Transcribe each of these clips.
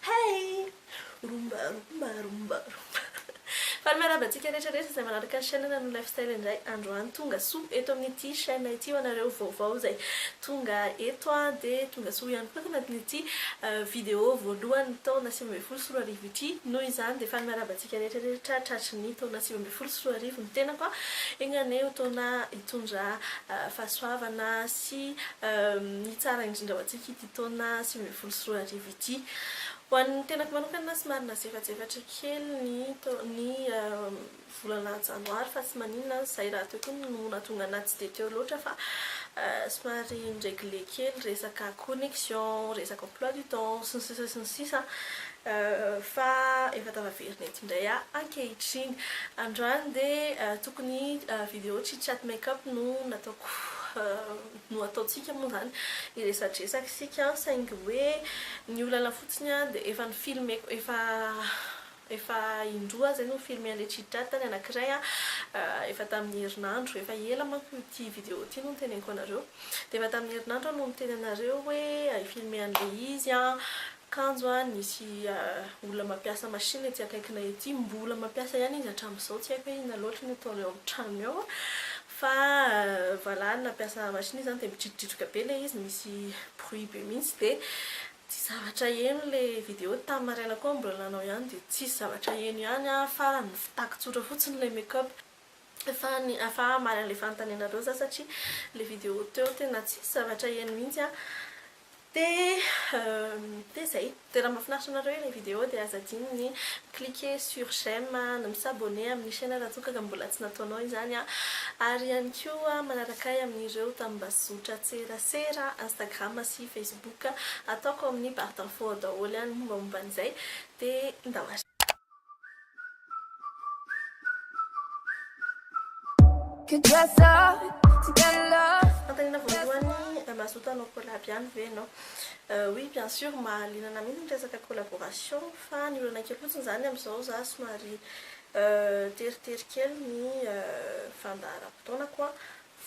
Hey! Rumba rumba rumba rumba Faly miarahaba antsika rehetra rehetra izay manaraka chaîne Nanon Lifestyle indray androany Tonga soa eto amin'ity chaîne ity ho anareo vaovao izay tonga eto an Dia tonga soa ihany koa ato anatin'ity vidéo voalohan'ny taona sivy ambin'ny folo sy roa arivo ity Noho izany dia faly miarahaba antsika rehetra rehetra tratry ny taona sivy ambin'ny folo sy roa arivo ny tenako an Enga anie ho taona hitondra fahasoavana sy hitsara indrindra ho antsika ity taona sivy ambin'ny folo sy roa arivo ity. Ho an'ny tenako manokana somary nazefajefatra kely ny ny volana janoary fa tsy maninona aza izay rahateo koa no nahatonga anahy tsy dia teo loatra fa somary niregle kely resaka connexion, resaka emploi du temps sy ny sisa sy ny sisa fa efa tafaverina eto indray aho ankehitriny. Androany dia tokony video chit chat make up no nataoko no ataontsika moa zany hiresadresaka isika an, saingy hoe ny olana fotsiny an dia efa ny filmeko efa efa indroa zay no ny filme an'i Rechidrata ny anakiray an efa tamin'ny herinandro efa ela manko ity video ity no niteneniko anareo dia efa tamin'ny herinandro aho no niteny anareo hoe hi filme an'ilay izy an Kanjo a, nisy olona mampiasa machine ety akaikinay ety, mbola mampiasa ihany izy hatramin'izao, tsy haiko hoe inona loatra no ataony ao amin'ny tranony ao, fa valahany nampiasa machine izy izany dia midrikodridoka be ilay izy, misy bruit be mihitsy, dia tsy zavatra heno ilay vidéo, tamin'ny maraina koa aho mbola nanao ihany dia tsisy zavatra heno ihany an, farany ny fitako tsotra fotsiny ilay make up. fa ny fa hamaly an'ilay fanontanianareo za satria ilay vidéo teo tena tsisy zavatra heno mihitsy an dia dia izay dia raha mahafinaritra anareo ilay vidéo dia aza adino ny mi-cliquer sur j'aime na mi-s'abonner amin'ny chaîne raha toa ka mbola tsy nataonao izany an ary ihany koa manaraka ahy amin'ireo tambazotran-tserasera instagram sy facebook ataoko amin'ny barre d'infos ao daholo ny mombamomba an'izay dia ndao ary Fanontaniana voalohany, mazoto hanao collab ihany ve ianao? Oui bien sûr, mahaliana anah mihitsy ny resaka collaboration fa ny olana kely fotsiny izany amin'izao za somary teritery kely ny fandaharam-potoanako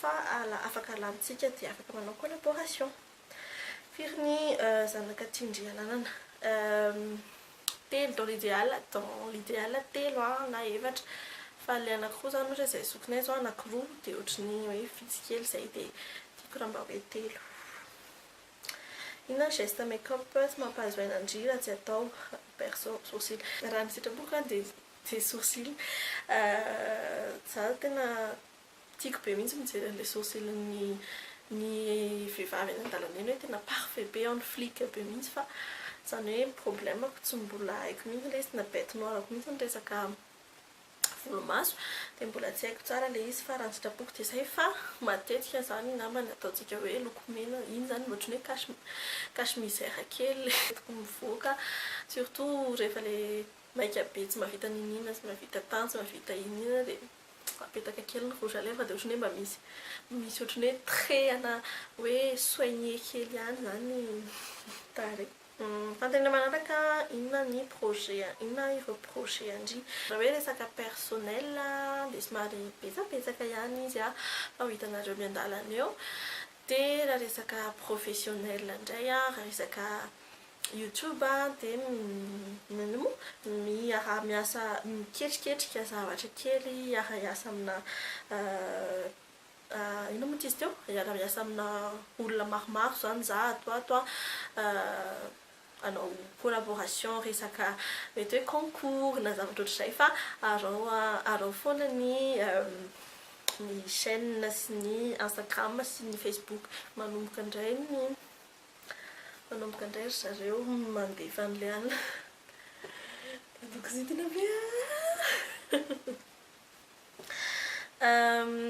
fa afaka alamintsika dia afaka manao collaboration. Firy ny zanak'Atsindriananana? Telo dans l'idéal, dans l'idéal telo a na efatra fa le anakiroa zany ohatra zay zokinay zao anakiroa de ohatry ny hoe vitsy kely zay de tiako raha mba hoe telo. Inona ny geste make up tsy mampahazo aina ndry raha tsy atao? perso sourcil raha ny sitrapoko a de sourcil, za tena Tiako be mihitsy mijery an'ilay sourcil-n'ny ny vehivavy eny an-dalana eny hoe tena parfait be en flic be mihitsy fa izany hoe problème-ko tsy mbola haiko mihitsy ilay izy tena bête noire-ko mihitsy ny resaka volomaso dia mbola tsy haiko tsara ilay izy fa raha ny sitrapoko dia izay fa matetika izany angamba ny ataontsika hoe lokomena iny izany mba ohatran'ny hoe cache cache misère kely ilay tokony mivoaka surtout rehefa ilay maika be tsy mahavita n'inon'inona tsy mahavita tany tsy mahavita inon'inona dia apetaka kely ny rouge à lèvres dia ohatran'ny hoe mba misy misy ohatran'ny hoe trait ana hoe soigner kely ihany izany ny tarehy. Fanontaniana manaraka, inona ny projet inona ireo projet an-dry? Raha hoe resaka personnel dia somary betsabetsaka ihany izy an, fa ho hitanareo miandalana eo. Dia raha resaka professionnel indray, raha resaka YouTube dia miaraha miasa miketriketrika zavatra kely hiara hiasa amina inona moa ity izy teo? hiara hiasa amina olona maromaro izany za ato ho ato hanao collaboration resaka mety hoe concours na zavatra ohatr'izay fa araho foana ny ny chaine sy ny instagram sy ny facebook manomboka indray ny Manomboka indray ry zareo mandefa an'ilay alina. Atao kizitina ve an?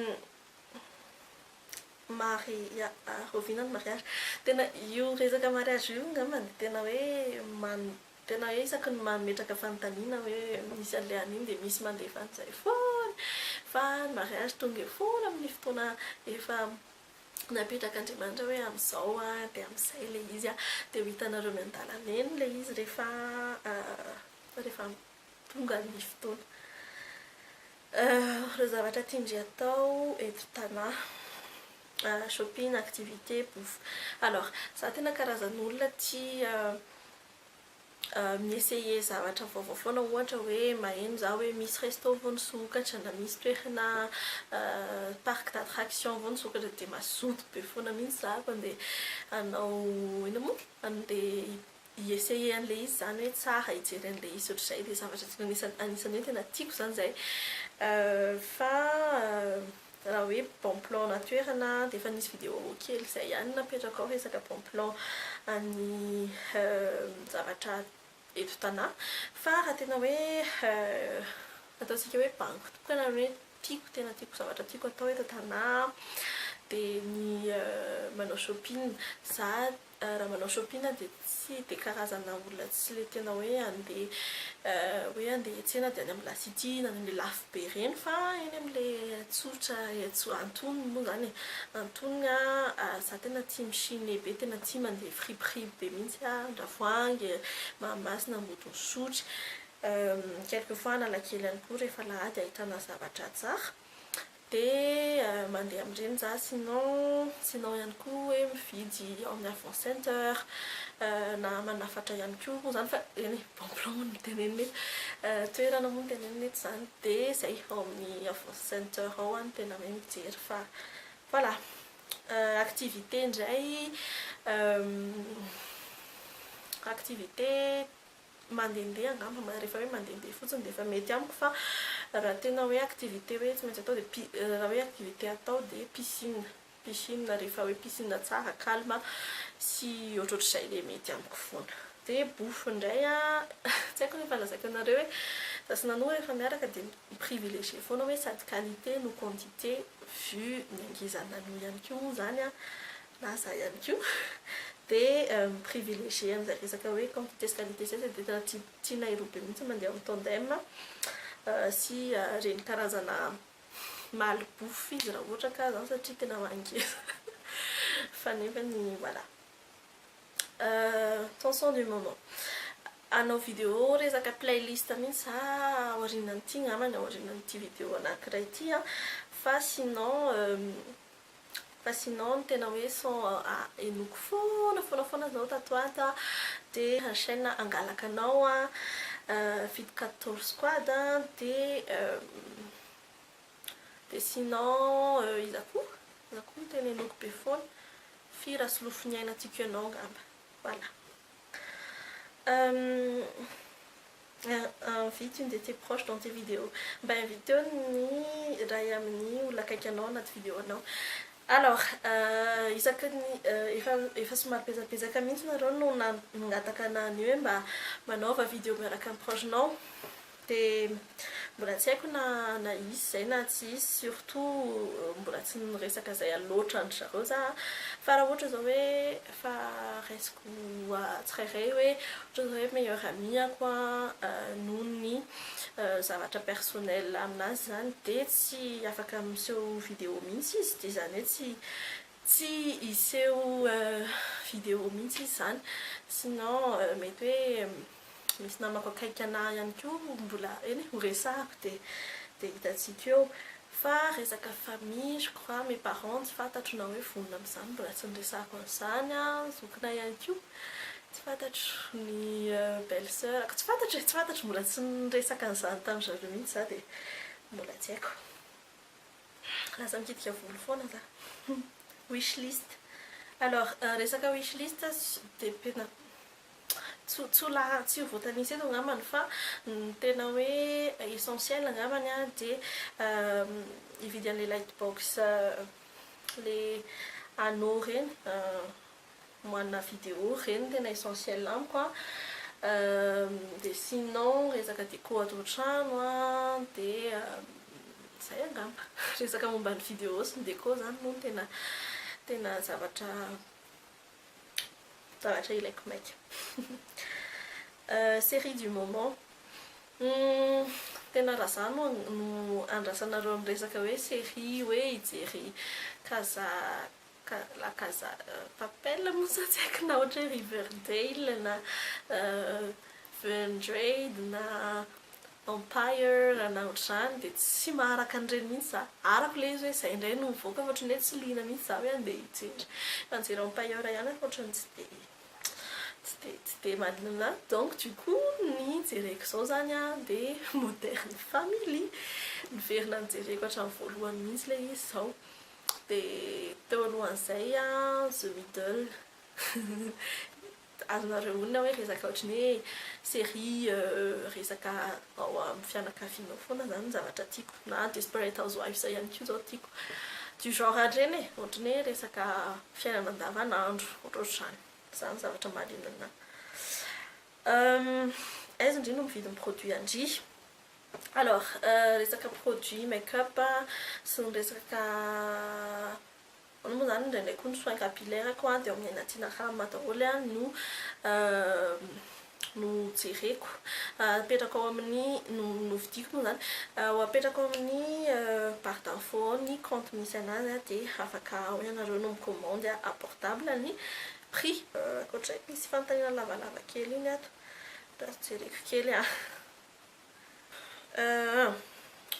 Maria, rahoviana ny mariazy? Tena io resaka mariazy io angamba no tena hoe man- tena hoe isaky ny mametraka fanontaniana hoe misy an'ilay alina iny dia misy mandefa an'izay foana. Fa ny mariazy tonga eo foana amin'ny fotoana efa NapetrakaNdriamanitra hoe amin'izao dia amin'izay ilay izy an, dia ho hitanareo miandalana eny ilay izy rehefa rehefa tonga ny fotoana. Ireo zavatra tian-dry atao eto Tana, shopping, activité, bouffe. Alors, za tena karazan'olona tia mi-essayer zavatra vaovao foana ohatra hoe maheno za hoe misy resto vao nisokatra na misy toerana parc d'attraction vao nisokatra dia mazoto be foana mihitsy za mpandeha hanao inona moa handeha hi-essayer an'ilay izy izany hoe tsara hijery an'ilay izy ohatr'izay dia zavatra anisan'ny hoe tena tiako izany izay fa Raha hoe bon plan na toerana dia efa nisy video kely izay ihany napetrako ao resaka bon plan an'ny zavatra eto Tana fa raha tena hoe ataontsika hoe bango tokana ny hoe tiako tena tiako zavatra tiako atao eto Tana dia ny manao shopping za Raha manao shopping aho dia tsy dia karazana olona tsy le tena hoe handeha hoe handeha hiantsena dia any amin'ny la city na any amin'ilay lafo be ireny fa eny amin'ilay tsotra etsy antonony moa izany e. Antonony aho za tena tia mi-chine be tena tia mandeha friperie be mihitsy aho andravoahangy, mahamasina, ambodin'isotry, quelque fois analakely ihany koa rehefa alahady ahitana zavatra tsara Dia mandeha amin'ireny za sinon sinon ihany koa hoe mividy ao amin'ny Avon Center na manafatra ihany koa moa izany fa eny e, bon plan hono no tenenina eto, toerana hono no tenenina eto izany dia izay ao amin'ny Avon Center ao aho no tena hoe mijery fa voilà. Activité indray activité. mandehandeha angamba rehefa hoe mandehandeha fotsiny dia efa mety amiko fa raha tena hoe activité hoe tsy maintsy atao dia pi- raha hoe activité atao dia piscine piscine rehefa hoe piscine tsara calme sy ohatrohatr'izay ilay mety amiko foana dia bouffes indray an tsy haiko rehefa lazaiko anareo hoe za sy Nanou rehefa miaraka dia mi privilégier foana hoe sady qualité no quantité vu ny angezan'i Nanou ihany koa moa izany an na za ihany koa dia mi-privilégier an'izay resaka hoe quantités qualités izay dia tena tianay roa be mihitsy ny mandeha en tandem sy ireny karazana maly bouffe izy raha ohatra ka izany satria tena mangina fa nefany voilà tension du moment hanao vidéo resaka playlist mihitsy za aorianan'ity angambany aorianan'ity vidéo anankiray ity fa sinon Fa sinon ny tena hoe son ahenoako foana foana foana zao tato ho ato an, dia enchaine hangalaka anao an, feat quatorze squad an, dia dia sinon iza koa? iza koa no tena henoako be foana? Fy Rasolofoniaina tiako ianao angamba, voilà. Invite une de tes proches dans tes videos, mba inviteo ny iray amin'ny olona akaiky anao anaty video anao. Alors, isaky ny efa efa somary pezapezaka mihitsy nareo no nangataka anah ny hoe mba manaova video miaraka amin'ny proche nao de mbola tsy haiko na na hisy izay na tsy hisy surtout mbola tsy niresaka izay loatra an-dry zareo zah fa raha ohatra zao hoe Fa raisiko tsirairay hoe ohatran'ny hoe meilleur ami-ako noho ny zavatra personnel aminazy izany dia tsy afaka miseho vidéo mihitsy izy dia izany hoe tsy tsy hiseho vidéo mihitsy izy izany sinon mety hoe Misy namako akaiky anah ihany koa mbola eny e, horesahako dia dia hitantsika eo. Fa resaka famille, je crois, mes parents tsy fantatro na hoe vonona amin'izany, mbola tsy niresahako an'izany an, zokinay ihany koa tsy fantatro, ny belle soeur-ko tsy fantatro e, tsy fantatro, mbola tsy niresaka an'izany tamin-dry zareo mihitsy za dia mbola tsy haiko. Lasa mikitika volo foana za. Wish list. Alors resaka wish list dia tena Tsy tsy ho laha tsy ho voatanisa eto angambany fa ny tena hoe essentiel angambany a dia hividy an'ilay light box ilay anneau ireny moahana video ireny no tena essentiel amiko a. Dia sinon resaka déco ato an-trano a dia izay angamba. Resaka momba ny video sy ny déco izany moa no tena tena zavatra. Tahotra ilaiko maika. Série du moment. Tena raha za no andrasanareo amin'ny resaka hoe série hoe hijery Casa la Casa de Papel moa sa tsy haiko na ohatra hoe Riverdale na Vendredi na Empire raha na ohatr'izany dia tsy maharaka an'ireny mihitsy za. Arako ilay izy hoe izay indray no mivoaka fa ohatran'ny hoe tsy liana mihitsy za hoe handeha hijery. Raha nijery Empire ihany aho fa ohatran'ny tsy dia tsy dia tsy dia maninona ahy. Donc du coup ny jereko izao izany a dia Modern Family. Niverina nijereko hatramin'ny voalohany mihitsy ilay izy izao. Dia teo alohan'izay The Middle. Azonareo onona hoe resaka ohatry ny hoe série resaka ao amin'ny fianakaviana ao foana izany ny zavatra tiako. Na Desperate Housewives ihany koa izao tiako. Du genre an'ireny e, ohatry ny hoe resaka fiainana andavanandro, ohatrohatr'izany. Izany ny zavatra mahaliana anà. Aiza indry no mividy ny produits an-dry? Alors resaka produits make-up sy ny resaka Hono moa zany indraindray koa ny soins capillaires koa dia ao amin'ny aina tiana haramina daholo no no jereko apetrako ao amin'ny no novidiako moa zany ho apetrako ao amin'ny barre d'info ao ny compte misy anazy dia afaka ao ianareo no mi-commande à portable ny prix. Ankoatra izay misy fanontaniana lavalava kely iny ato jereko kely an.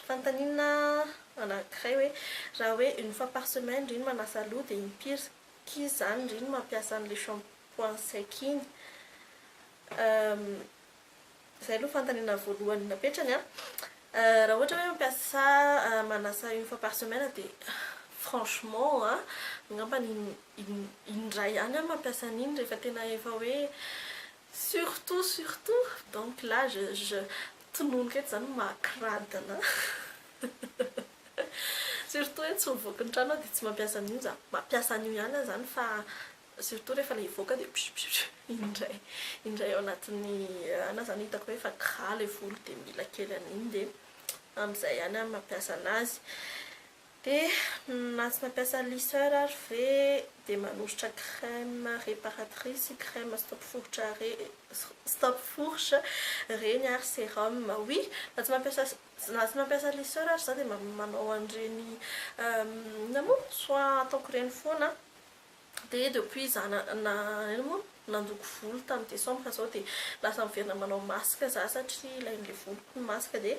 Fanontaniana anankiray hoe, raha hoe une fois par semaine ry ny manasa loha dia impiry k'y izany ry ny mampiasa an'ilay shampoing sec iny? Izay aloha fanontaniana voalohany napetrany an! Raha ohatra hoe mampiasa manasa une fois par semaine dia franchement an, angambany in indray ihany aho mampiasa an'iny rehefa tena efa hoe Surtout surtout donc là je je tononiko eto zany makradina surtout hoe tsy mivoaka ny trano aho dia tsy mampiasa an'io za. Mampiasa an'io ihany aho zany fa surtout rehefa ilay hivoaka dia psupsup iny indray indray ao anatin'ny heure na zany hitako hoe efa gras ilay volo dia mila kely an'iny dia amin'izay ihany aho mampiasa an'azy. Dia matsy mampiasa lisseur ary ve dia manositra crème réparatrice sy crème stop fourche re stop fourche reny ary sérum? Oui, na tsy mampiasa na tsy mampiasa lisseur ary za dia manao an'ireny inona moa soit ataoko ireny foana an. Dia depuis za na na inona moa nandoko volo tamin'ny décembre zao dia lasa miverina manao masque za satria ilain'ilay voloko ny masque dia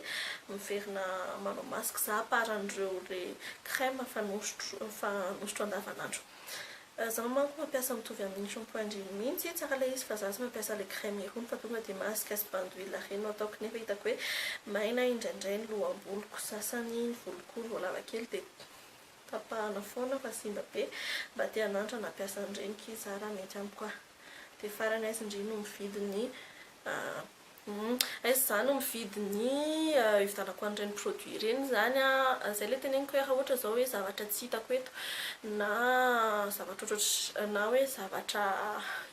miverina manao masque za à part an'ireo ilay crème fanosotro fanosotro andavanandro. Zaho manko mampiasa mitovy amin'ny shampoing ndry mihitsy, tsara ilay izy fa za tsy mampiasa ilay crème irony fa tonga dia masque sy bain d'huile ireny no ataoko nefa hitako hoe maina indraindray ny loham-boloko sasany, ny voloko vao lava kely dia Tapahana foana fa simba be. Mba te hanandrana hampiasa an'ireny k'y za raha mety amiko ah. Dia farany aiz ndry no mividy ny humm aiz za no mividy ny hividianako an'ireny produit ireny izany ah. Izay ilay teneniko hoe raha ohatra izao hoe zavatra tsy hitako eto na zavatra ohatrotr na hoe zavatra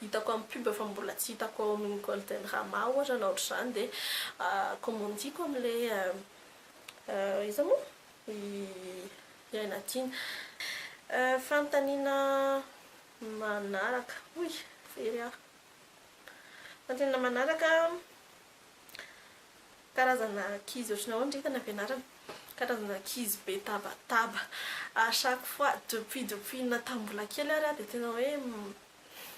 hitako amin'ny pub fa mbola tsy hitako ao amin'ny golden rama ohatra na ohatr'izany dia commandiko amin'ilay iza moa? ny hiaina tiana. Fanontaniana manaraka, hoy very aho. Fanontaniana manaraka, karazana ankizy ohatrany ahoana ry hitany ampianarana? Karazana ankizy be tabataba. A chaque fois, depuis depuis na tamin'ny mbola kely ary aho dia tena hoe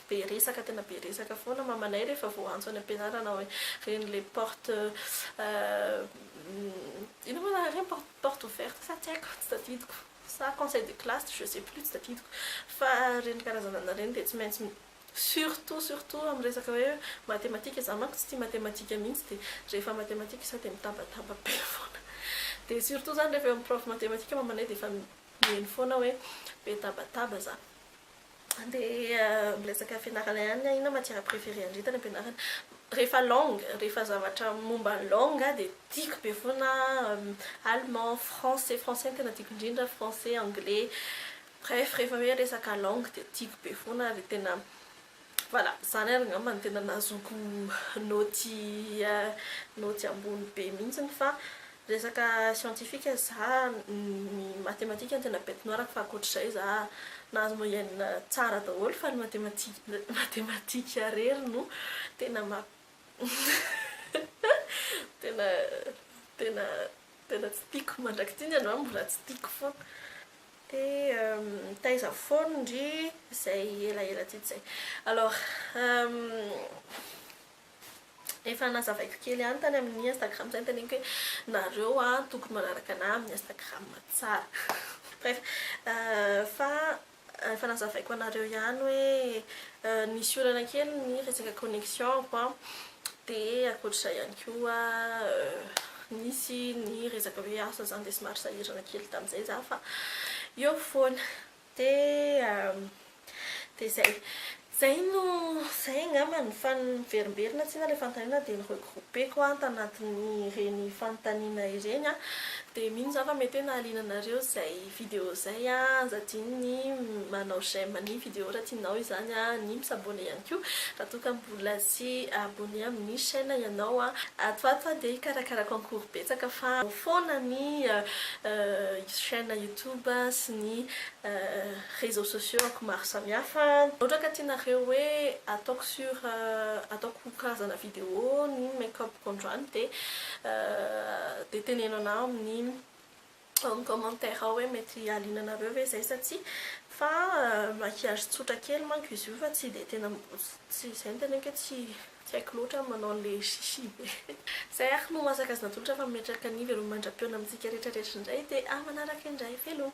be resaka tena be resaka foana mamanay rehefa vao antso any ampianarana hoe reny le porte inona moa zany reny porte porte ouverte sa tsy haiko tsy tadidiko sa conseil de classe je sais plus tsy tadidiko fa reny karazana reny dia tsy maintsy surtout surtout amin'ny resaka hoe matematika za manko tsy tia matematika mihitsy dia rehefa matematika za dia mitabataba be foana dia surtout zany rehefa eo amin'ny prof matematika mamanay dia efa mihaino foana hoe be tabataba za Andeha miresaka fianarana ihany aho, inona matière préféré an-dry tany am-pianarana? Rehefa langue, rehefa zavatra momba ny langue dia tiako be foana allemand, français, français no tena tiako indrindra, français, anglais, bref rehefa hoe resaka langue dia tiako be foana ary tena Voilà, zany ary angamba no tena nahazoako naoty naoty ambony be mihitsiny fa resaka scientifique za ny matematika no tena bête noire-ko fa ankoatr'izay za nahazo moyenne tsara daholo fa ny matematika matematika irery no tena ma tena tena tena tsy tiako mandrak'ity ny androany mbola tsy tiako foana. Dia mitaiza foana ndry izay elaela teto izay. Alors, efa nazavaiko kely ihany tany amin'ny Instagram izay noteneniko hoe nareo tokony manaraka anah amin'ny Instagram tsara. Bref, fa efa nazavaiko anareo ihany hoe nisy olana kely ny resaka connexion-ko an. Dia ankoatr'izay ihany koa, nisy ny resaka hoe asa izany dia somary sahirana kely tamin'izay izaho fa eo foana. Dia dia izay. Izay no, izay angamba no fa niverimberina tsinona ilay fanontaniana dia ni-regrouper-ko aho tanatin'ireny fanontaniana ireny an. Dia mino izaho fa mety hoe nahaliana anareo izay Video zay a aza adino ny manao j'aime ny video raha tianao izany a ny mi s'abonner ihany koa raha toa ka mbola tsy abonner amin'ny chaîne ianao a ato ato a dia hikarakara concours betsaka fa ao foana ny chaîne youtube sy ny réseaux sociaux ako maro samihafa raha ohatra ka tianareo hoe ataoko sur ataoko karazana video ny make up ko androany dia dia teneno anah amin'ny amin'ny commentaire ao hoe mety haliana anareo ve izay sa tsia fa maquillage tsotra kely manko izy io fa tsy dia tena tsy izay ny teneniko hoe tsy tsy haiko loatra ny manao an'ilay chichi be izay ary no maha sakajy natolotra fa mimetraka ny veloma mandra-pihaona amintsika rehetra rehetra indray dia amanaraka indray veloma.